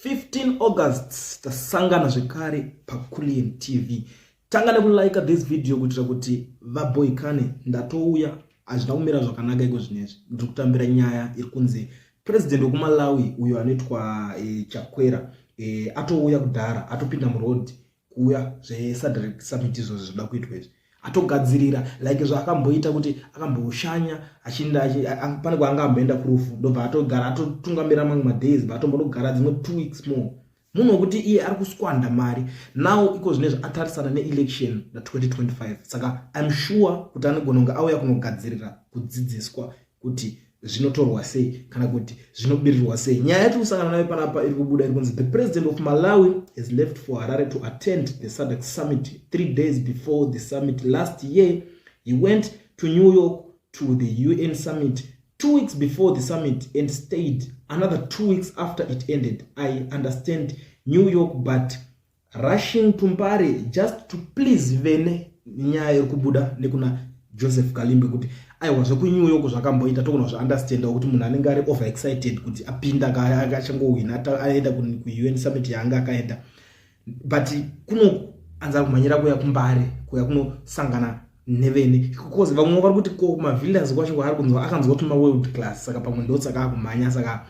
15 August tasangana zvekare paCullian TV. Tanga nekulike this video kuitira kuti vaboikane ndatouya hazvina kumira zvakanaka iko zvinezvi ndiri kutambira nyaya iri kunzi president wekumalawi uyo anoitwa e, chakwera e, atouya kudhara atopinda muroad kuuya zvesadrek summit izvozvo zvoda kuitwa izvi atogadzirira like zvaakamboita kuti akamboshanya achinda pane kwaanga amboenda kurufu ndobva atogara atotungamira mamwe madays bva atombonogara dzimwe two weeks more munhu wekuti iye ari kuswanda mari now iko zvine zvaatarisana neelection na2025 saka im sure kuti anogona kunge auya kunogadzirira kudzidziswa kuti zvinotorwa sei kana kuti zvinobirirwa sei nyaya yatiri kusangana nayo panapa iri kubuda iri kunzi the president of malawi has left for harare to attend the sadec summit three days before the summit last year he went to new york to the un summit two weeks before the summit and stayed another two weeks after it ended i understand new york but rushing to mbare just to please vene nyaya iri kubuda nekuna joseph kalimbe kuti aiwa zvekunyu yoko zvakamboita togona zvaunderstanda kuti munhu anenge ari over excited kuti apinda achangowina aenda kuun summit yaanga akaenda but kunoanza kumhanyira kuya kumbare kuya kunosangana nevene because vamwe vari kuti ko mavillas kwacho kwaari kunzwa akanzwa kuti maworld class saka pamwe ndotsaka akumhanya saka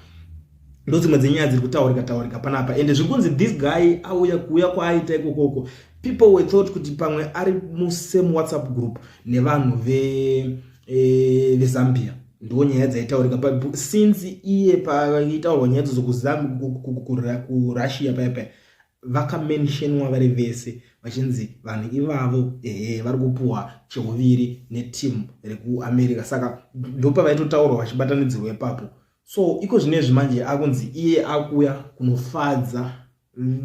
ndodzimwe dzenyaya dziri kutaurika taurika panapa and zviri kunzi this guy auya kuuya kwaaita ikokoko people were thought kuti pamwe ari musame whatsapp group nevanhu vezambia eh, ve ndiwo nyaya dzaitaurika since iye paaitaurwa nyaya dzozo kurussia paya paya vakamentionwa vari vese vachinzi vanhu ivavo ehe vari kupuhwa cheuviri netimu rekuamerica saka ndopavaitotaurwa vachibatanidzirwa ipapo so iko zvine izvi manje akunzi iye akuuya kunofadza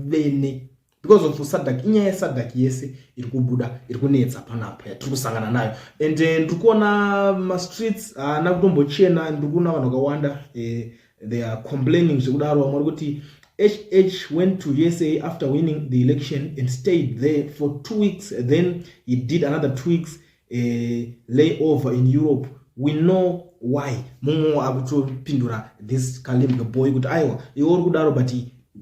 vene because of sadak inyaya yesadak yese iri kubuda iri kunetsa panapa yatiri kusangana nayo and eh, ndiri kuona mastreets haana kutombochena ndiri kuona vanhu vakawanda eh, they are complaining zvekudaro vamwe vari kuti hh went to usa after winning the election and stayed there for two weeks then he did another two weeks uh, lay over in europe we know why mumwe akutopindura this kalim the boy kuti aiwa iwe uri kudaro but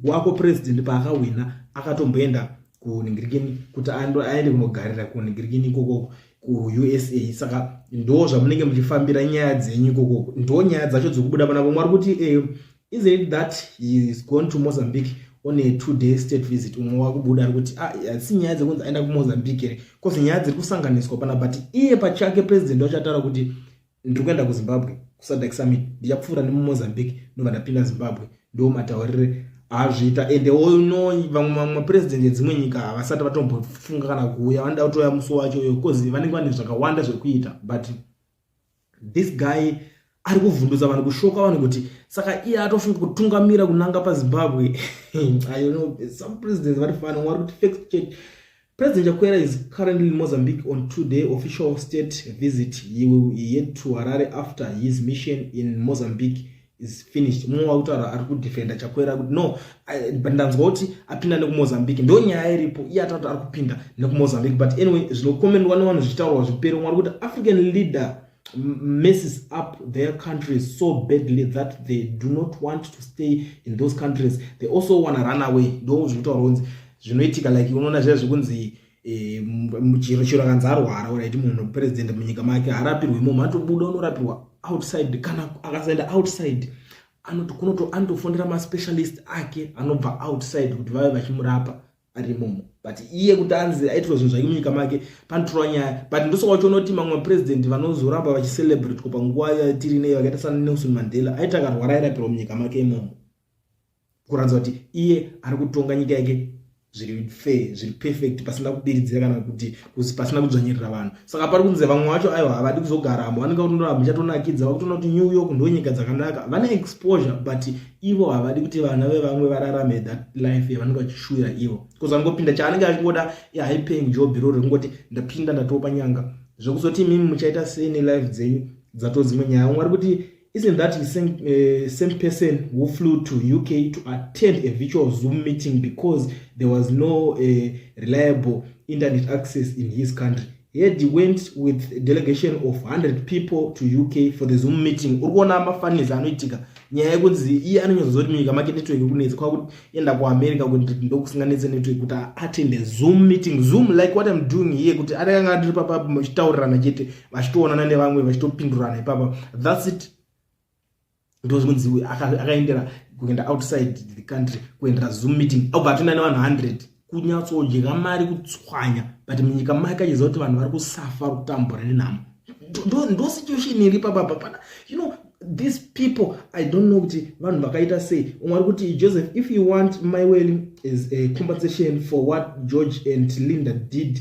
wako president paakawina akatomboenda kuningirikini kuti aende kunogarira kuningirikini ikokoko kuusa saka ndo zvamunenge muchifambira nyaya dzenyu ikoko ndo nyaya dzacho dzikubuda panako mwari kuti eh, is it that he is gone to mozambique on a two day state visit umwe wakubuda ari kuti ah, asi nyaya dzekunzi aenda kumozambique here bcause nyaya dziri kusanganiswa pana but iye pachake president wachataura kuti ndiri kuenda kuzimbabwe kusadak summit ndichapfuura nemumozambique ndobva ndapinda zimbabwe ndo mataurire azviita ende ono vamwe vamwe mapurezidendi edzimwe nyika havasati vatombofunga kana kuuya vanoda kutouya musi wacho uyo bcause vanenge vane zvakawanda zvekuita but this guy ari kuvhundutsa vanhu kushoka vanhu kuti saka iye atofunga kutungamira kunanga pazimbabwe i don't know some presidents vari fana wari kuti fake church President Chakwera is currently in Mozambique on two-day official state visit. He will head to Harare after his mission in Mozambique is finished. Mumwe wakutaura ari kudefenda Chakwera kuti no, but ndanzwa kuti apinda nekuMozambique. Ndo nyaya iripo. Iye atati ari kupinda nekuMozambique. But anyway, zvinokomendwa nevanhu zvichitaurwa zvipere. Mwari kuti African leader messes up their countries so badly that they do not want to stay in those countries they also wanna run away ndo zvinotaura kunzi zvinoitika like unoona zviya zvekunzi eh, chiro chiro akanzi arwara ora iti munhu president munyika make harapirwe munhu atobuda unorapirwa outside kana akasaenda outside anoti kunoto anotofondera maspecialist ake anobva outside kuti vave vachimurapa ari imomo but iye kuti anzi aitwa zvinhu zvake munyika make panotorwa nyaya but ndosoka uchiona kuti mamwe mapresident vanozoramba vachicelebratewa panguva yatiri nei vakaita sana nelson mandela aita akarwara airapirwa munyika make imomo kuratidza kuti iye ari kutonga nyika yake zviri fair zviri perfect pasina kubiridzira kana kuti kuzi pasina kudzvanyirira vanhu saka pari kunze vamwe vacho aiwa havadi kuzogaramo vanenge vakutonora muchatonakidza vakutona kuti new york ndo nyika dzakanaka vane exposure but ivo havadi kuti vana vevamwe vararame that life yavanenge vachishuvira ivo bcause angopinda chaanenge achingoda ihigh paying job iroro rekungoti ndapinda ndatopa nyanga zvekuzoti imimi muchaita sei nelife dzenyu dzatodzimwe nyaya vamwe vari kuti Isn't that the same, uh, same person who flew to UK to attend a virtual Zoom meeting because there was no uh, reliable internet access in his country? Yet he went with a delegation of 100 people to UK for the Zoom meeting. Urikuona mafanisi anoitika nyaya yekunzi iye anonyazozoti munyika make network kunetsa kwakuti enda kuamerica kuti ndokusinganetse network kuti attende zoom meeting zoom like what im doing here kuti atakanga ndiri papabmachitaurirana chete vachitoonana nevamwe vachitopindurana ipapa thats it ndozvinonzi akaendera kuenda outside the country kuendera zoom meeting obva atoenda nevanhu 100 kunyatsodya mari kutswanya but munyika make achiziva kuti vanhu vari kusafa kutambura nenhamo ndo situation iri pababa pana you know these people i don't know kuti vanhu vakaita sei umwe ari kuti joseph if you want my well is a compensation for what george and linda did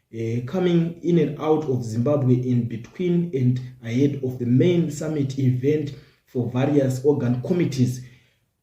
Uh, coming in and out of Zimbabwe in between and ahead of the main summit event for various organ committees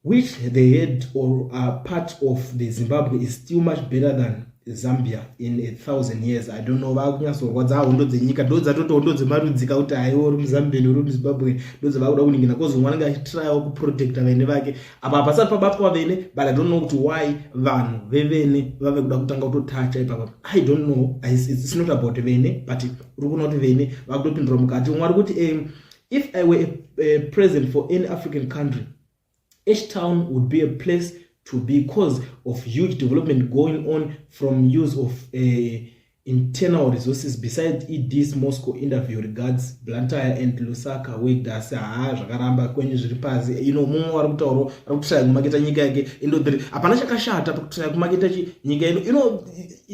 which the head or are part of the Zimbabwe is still much better than Zambia in a thousand years. I don't know vakunyatsorwadza hondo dzenyika ndo dzatoti hondo dzemarudzika kuti haiwo uri muZambian uri muZimbabwe ndo dzavakuda kuningina kozi mwana ngachitryawo kuprotecta vaine vake apa hapasati pabatwa vene but i don't know kuti why vanhu vevene vave kuda kutanga kutotacha ipapa i don't know it's not about vene but uri kuona kuti vene vakutopindura mukati umwe ari kuti um, if i were a, a president for any african country each town would be a place to be cause of huge development going on from use of uh, internal resources beside eds moscow interview regards blantyre and lusaka wegas haa zvakaramba kwenyu zviri pasi ino mumwe wari kutaurwa ari kutoshaya kumaketa nyika yake indodhiri hapana chakashata pakutoshaya kumaketa nyika ino ino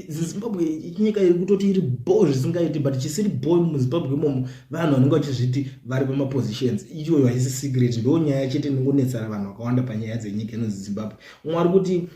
zimbabwe nyika iri kutoti iri bho zvisingaiti but chisiri bho muzimbabwe imomo vanhu vanenge vachizviti vari pamapositions iyoyo haisi secret ndo nyaya chete inongonetsana vanhu vakawanda panyaya dzenyika inonzi zimbabwe umwe ari kuti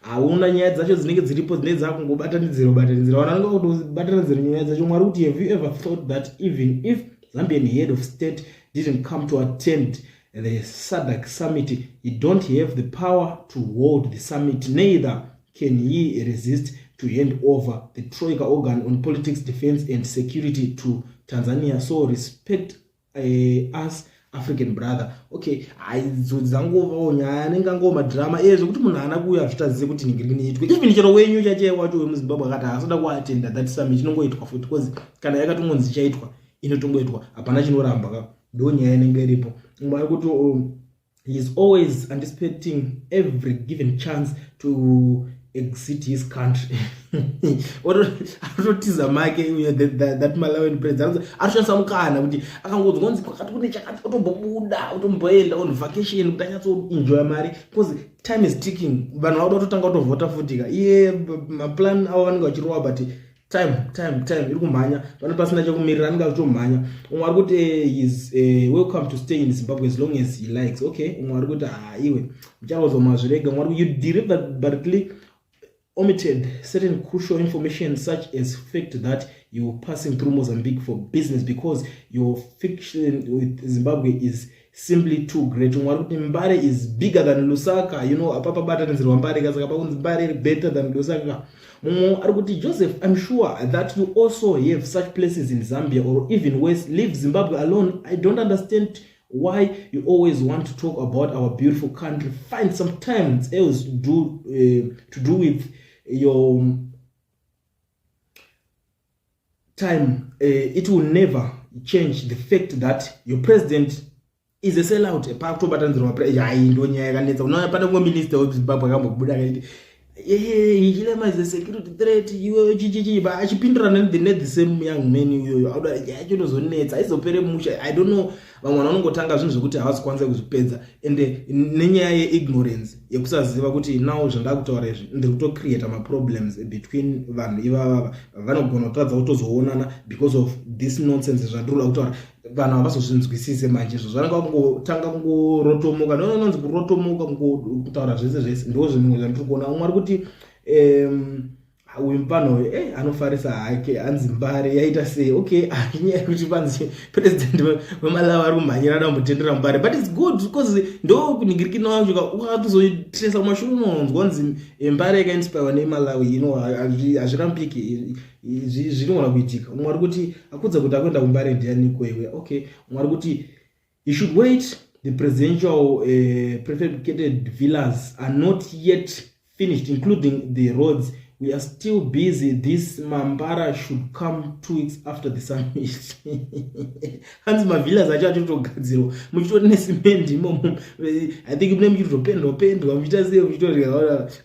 hauna nyaya dzacho dzinenge dziripo dzinenge dzakungobatanidzira ubatanidzira vanhu vanenge vakutobatanidzira nyaya dzacho mwari kuti have you ever thought that even if zambian head of state didn't come to attend the sadak summit he don't have the power to hold the summit neither can he resist to hand over the troika organ on politics defense and security to tanzania so respect eh, us african brother okay aidzodzi dzangovawo nyaya anenge angowo madrama iye eh, zvekuti munhu haana kuuya zvitazize kuti nhingi riki niitwe even chero wenyu chache wacho wemuzimbabwe akati haasoda kuatenda that summit inongoitwa futi bcause kana yakatongonzi ichaitwa inotongoitwa hapana chinoramba ka ndo nyaya inenge iripo mwari kuti oh, he is always anticipating every given chance to exit his country anototiza make that malawian president anoshandisa mukana kuti akangonzwa kunzi kwakati kune chakati otombobuda otomboenda on vacation kuti anyatsoenjoya mari because time is ticking vanhu vauda kutotanga kutovhota futika iye maplan avo vanenge vachirowa but time time time iri kumhanya pane pasina chekumirira anenge akutomhanya umwe ari kuti eh, is uh, welcome to stay in zimbabwe as long as he likes okay umwe ari kuti haa ah, iwe muchakaudzwa mazvirega umwe ari kuti you deliver bartly omitted certain crucial information such as fact that you're passing through mozambique for business because your fiction with zimbabwe is simply too great umwe ari kuti mbare is bigger than lusaka you know apa pabatanidzirwa mbare ka saka pakunzi mbare iri better than lusaka mumwe ari kuti joseph im sure that you also have such places in zambia or even worse leave zimbabwe alone i don't understand why you always want to talk about our beautiful country find some times else to do, uh, to do with your time uh, it will never change the fact that your president is a sell out pa kutobatanzirwa hai ndo nyaya yakanetsa unaona pane kumwe minister wezimbabwe akambobuda akaiti eh, chilema is a security threat iwe chichichi ba achipindirana nethe same young man iyoyo auda yacho inozonetsa aizopere musha i don't know vamwe vanhu vanongotanga zvinhu zvekuti havasi kwanisa kuzvipedza ende nenyaya yeignorance yekusaziva kuti now zvandakutaura izvi ndiri kutocreata maproblems between vanhu ivavava vanogona kutadza kutozoonana because of this nonsense zvandirikuda kutaura vanhu havazozvinzwisise manje izvo zvananga kungotanga kungorotomoka ndonononzi kurotomoka kutaura zvese zvese ndo zvimwe zvandiri kuona umwe ari kuti um, uyu mupano uyu e anofarisa hake hanzi mbare yaita sei okay inyaya yekuti panzi president vemalawi ari kumhanyira ada kumutendera mbare but its good because ndo kuningirikina wacho wakatozotresa kumashure unonzwa nzi eh, mbare yakainspirwa nemalawi ino hazvirambike zvinogona kuitika umwe ari kuti akudza kuti akuenda kumbare ndiyaniko iwe okay umwe ari kuti He should wait. The presidential uh, prefabricated villas are not yet finished, including the roads. We are still busy. This Mambara should come two weeks after the summit. Hanzi mavillas acho acho togadzirwa. Muchitori necement imomo. I think mune muchiri topendwa pendwa muchita sei muchitori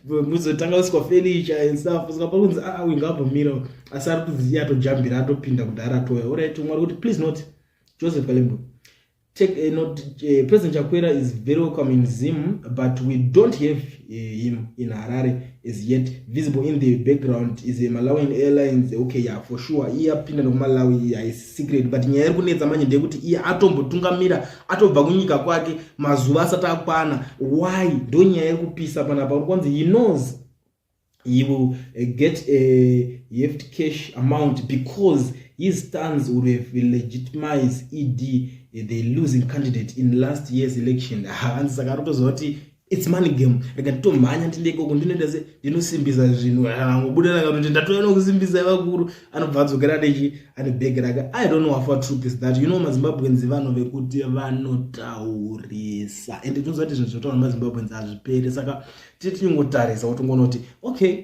muzotanga uswa furniture and stuff. Saka pakunzi ah, ah we ngabomira. Asi ari kuziya atojambira atopinda kudhara toya. Alright, mwari kuti please not. joseph kalembo take uh, not uh, president chakwera is very welcome in zim but we don't have uh, him in harare as yet visible in the background is a malawian airlines okay yeah for sure iye apinda nekumalawi yeah, is secret but nyaya iri kunetsa manje ndeyekuti iye atombotungamira atobva kunyika kwake mazuva asati akwana why ndo nyaya iri kupisa panapa uri kwanzi he knows he will uh, get a heft cash amount because his stands would have legitimized ed uh, the losing candidate in last year's election hanzi saka rotoziva kuti its money game rega titomhanya ndindekoko ndinoita se ndinosimbisa zvinhu hangobuda ah, rakatoti ndatouya nokusimbisa vakuru anobva adzokera nechi ane bhegi rake i don't know afa truth is that you know mazimbabwenzi vanhu vekuti vanotaurisa and tinoziva kuti zvinhu zvinotaura mazimbabwenzi hazvipere saka titinongotarisa kuti ungonoti okay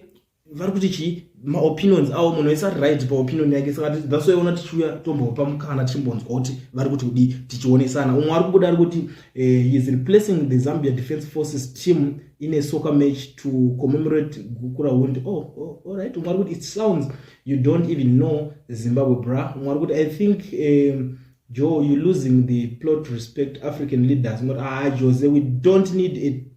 vari kuti chii maopinions avo munhu aisa right paopinion yake saka that's why ona tichiuya tombopa mukana tichimbonzwa kuti vari kuti kudii tichionesana umwe ari kubuda ari kuti eh, he is replacing the zambia defense forces team in a soccer match to commemorate gukura wound oh, oh, all right umwe ari kuti it sounds you don't even know zimbabwe bra umwe ari kuti i think um, joe you losing the plot respect african leaders ah jose we don't need a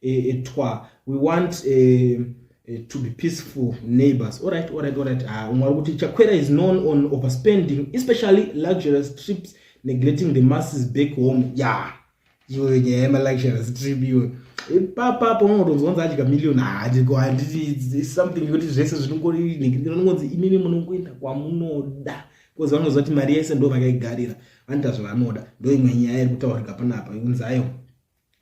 eh, eh, twa we want eh, eh, to be peaceful neighbors all right all right all right ah umwe ari kuti chakwera is known on overspending especially luxurious trips neglecting the masses back home ya yeah. iwe nyaya yemaluxurious trip iwe ipapa apo unotozonza adya million hadiko handiti something yekuti zvese zvinongongonzi imimi munongoenda kwamunoda bcause vanoziva kuti mari yese ndo vakaigarira vanoita zvavanoda ndo imwe nyaya iri kutaurika panapa unzayo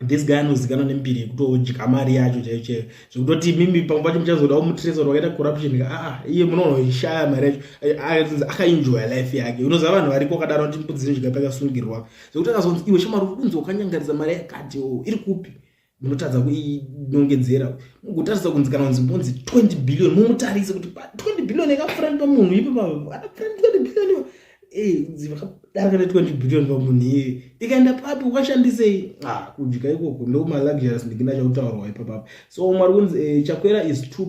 this guy anozikanwa nembiri yekutodya mari yacho chaiyo chaiyo zvekutoti imimi pamwe pacho muchazoda umutresa kuti wakaita corruption ka aa ah, iye munonoishaya mari yacho akatinzi akaenjoya life yake unoziva vanhu variko akadaro kuti mbudzi nezvika pakasungirwa zvekuti akazonzi iwe shamari uri kunzi wakanyangaridza mari yakati o oh, iri kupi munotadza kuinongedzera mugotaridza kunzi kana kunzi mbonzi 20 billion mumutarise kuti 20 billion yakafurandwa munhu ipo paa 20 billion darika ne 20 billion pamunhu iye ikaenda papi ukashandisei ah, kudya ikoko ndomaluxuries ndikina chautaurwa ipapapo so mwari kunzi eh, chakwera is too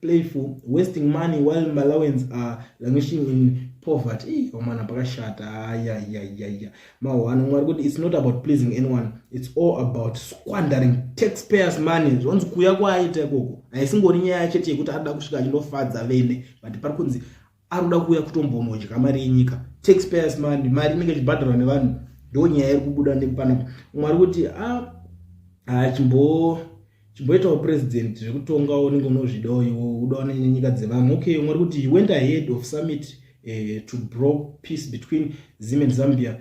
playful wasting money while malawians are languishing in poverty ii omwana pakashata ayayayaya mahwano mwari kuti its not about pleasing anyone its all about squandering taxpayers money zvonzi kuya kwaaita ikoko haisingori nyaya chete yekuti anoda kusvika achindofadza vene but pari kunzi arikuda kuuya kutombonodya mari yenyika taxpayers money mari inenge ichibhadharwa nevanhu ndo nyaya iri kubuda nepanapa umwe ari kuti ah, ah, chimbo chimboitawo president zvekutongawo unenge unozvidawo iwo udawo nenyika dzevamwe okay umwe ari kuti he went ahead of summit uh, to bro peace between zim and zambia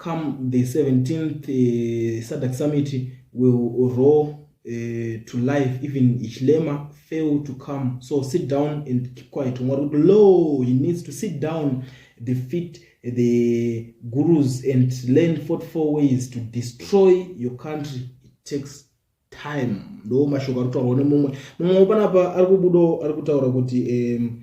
come the 17th uh, eh, sadak summit will roll uh, eh, to life even ichlema fail to come so sit down and keep quiet mwari kuti lo he needs to sit down the fit the gurus and learn 44 ways to destroy your country it takes time ndo mashoko ari kutaurwa nemumwe mumwe panapa ari kubudo ari kutaura kuti um,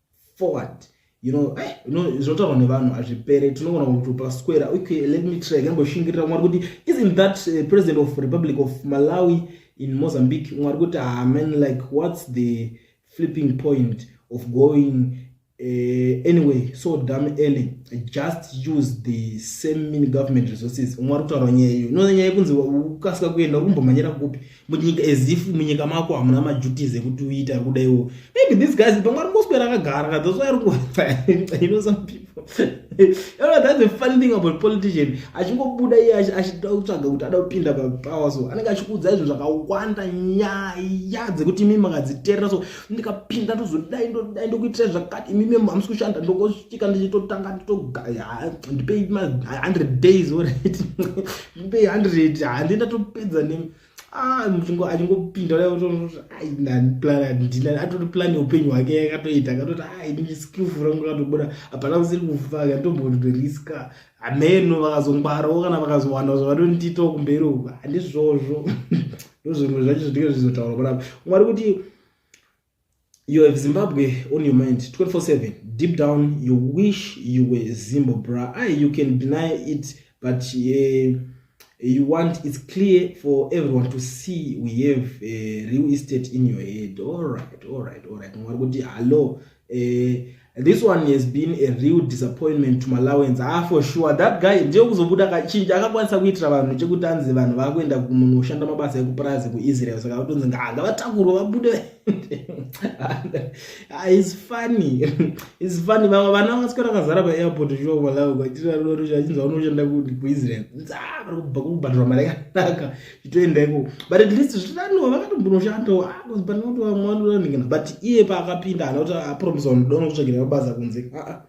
forward you know eh, you know zvotaurwa nevanhu hazvipere tinogona kutupa square okay let me try kamboshingirira mwari kuti isn't that uh, president of republic of malawi in mozambique mwari kuti ah man like what's the flipping point of going uh, anyway so dam early just use the same mini government resources mwari kutaura nyaya iyo no nyaya yekunzi ukasika kuenda uri kumbomhanyira kupi munyika as if munyika mako hamuna maduties ekuti uite ari kuda iwo maybe this guys pamwe ari kungoswera akagara ka those ari kuwaaa you know some people aa that's the funny thing about politician achingobuda iye achida kutsvaga kuti ada kupinda papower so anenge achikuudza izvo zvakawanda nyaya dzekuti imimi makadziterera so ndikapinda ndozodai ndodai ndokuitira zvakati imimi hamusi kushanda ndokosvika ndichitotanga nditogaya ndipei ma 100 days orit be 100 hande ndatopedza ne ah muchingo achingopinda ai ndani plan ndina atori plan upenyu hwake yakatoita akatoti ai ni skillful rangu katobuda apana kusiri kufaka ndombondo riska ameno vakazongwarawo kana vakazowana zvavanondita kumberi uku handizvozvo ndozvimwe zvacho zvinenge zvizotaura panapa mwari kuti you have zimbabwe on your mind 247 deep down you wish you were zimbabra i you can deny it but uh, you want it's clear for everyone to see we have uh, real estate in your head all right all right all right mwari kuti hallo uh, This one has been a real disappointment to Malawians. Ah, for sure. That guy, ndiyo kuzobuda kachinja, akakwanisa kuitira vanhu chekuti anzi vanhu vakuenda kumunhu ushanda mabasa ekupurazi kuIsrael. Saka kutonzi nganga vatakuru vabude. Ah, it's funny. It's funny. Vamwe vana vasikora kazara pa airport zvo Malawi kwachira rori zvachinzi vanoshanda kuIsrael. Nzaa, ah, vari kubva kubhadhura mari yakanaka. zvitoenda ikoko but at least zvitaniwa vakatombonoshandawo ah, panotoamwandoranikana but iye paakapinda ana kuti apromisa ah, ndona kutsvagira mabasa kunze ah,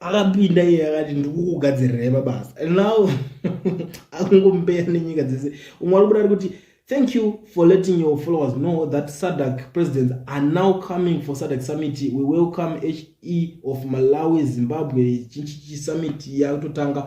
akapinda iye akati ndikukugadzirirei mabasa and now akungombeya nenyika dzese umwe ari kubuda ari kuti thank you for letting your followers know that sadak presidents are now coming for sadak summit we welcome he of malawi zimbabwe chichichi summit yakutotanga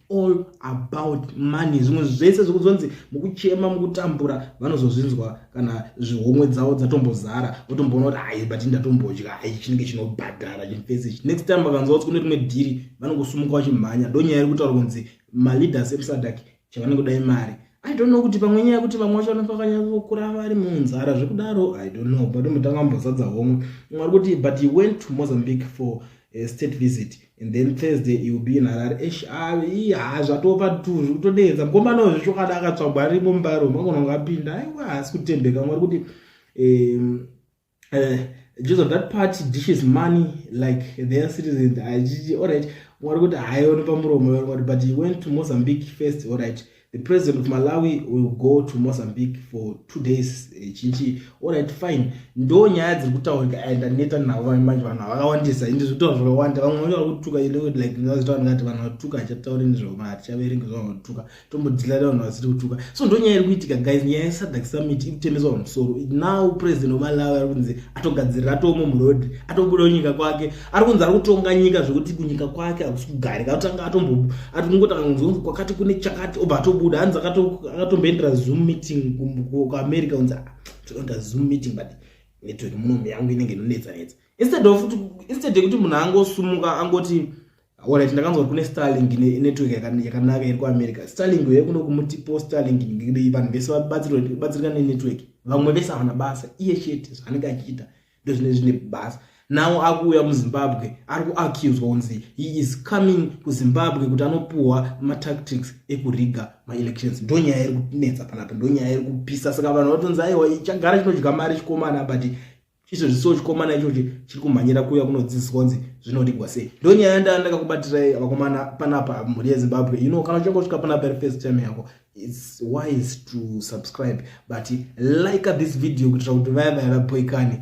all about money zvimwe zvese zvekuzonzi mukuchema mukutambura vanozozvinzwa kana zvihomwe dzavo dzatombozara votomboona kuti ai but ndatombodya ai chinenge chinobhadhara chimfese next time vakanzwa kuti kune rimwe dhiri vanongosumuka vachimhanya ndonyaya iri kutaura kunzi maleaders esadak chavanenge kudai mari i don't know kuti pamwe nyaya yekuti vamwe vacho vanofakanyaokura vari munzara zvekudaro i don't know but mutanga mbozadza homwe mwari kuti but he went to mozambique for a state visit and then thursday ill be in harare esh haa zvatova tu zviri kutodeedza mukomana wezvo chokwadi akatsvagwa arimo mubaro magona kunge apinda aiwa haasi kutembeka mwari kuti um, uh, just of that party dishes money like their citizens achichi allright mwari kuti haioni pamuromo vamwari but he went to mozambique first allright The president of Malawi will go to Mozambique for two days eh, chinchi alright fine ndo nyaya dziri kutaurika and aneta navo vamwe manje vanhu havakawandisa indi zvitaura zvakawanda vamwe vacho vari kutuka like zvitaura ndingati vanhu vatuka hachatauri nezvavo kana hatichaverenga zvavo vatuka tombodhilare vanhu vasiri kutuka so ndo nyaya iri kuitika guys nyaya yesadak summit iri kutemeswa pamusoro now president of Malawi ari kunzi atogadzirira atoomo muroad atobuda nyika kwake ari kunzi ari kutonga nyika zvekuti kunyika kwake hakusi kugarika atanga atombo ati kungotanga kunzi kunzi kwakati kune chakati obva atobuda hanzi akatomboendera zoom meeting kuamerica kunzi ah, tinoenda zoom meeting but network munomi yangu inenge inonetsa netsa instead of instead yekuti munhu angosumuka angoti orit ndakanzwa kune starling network yakanaka iri kuamerica starling uye kuno kumutipo starling vanhu vese vabatsirika nenetwork vamwe vese havana basa iye chete zvaanenge achiita ndozvine zvine basa now akuuya muzimbabwe ari kuaccuswa kunzi he is coming kuzimbabwe kuti anopuhwa matactics ekuriga maelections ndo nyaya iri kunetsa panapo ndo nyaya iri kupisa saka vanhu vatonzi aiwa chagara chinodya mari chikomana but izvo zviso chikomana ichochi chiri kumhanyira kuuya kunodzidziswa kunzi zvinorigwa sei ndo nyaya yandaa ndakakubatirai vakomana panapa mhuri yezimbabwe you know kana uchange usvika panapa iri first time yako its wise to subscribe but like this video kuitira kuti vaya vaya vapoikane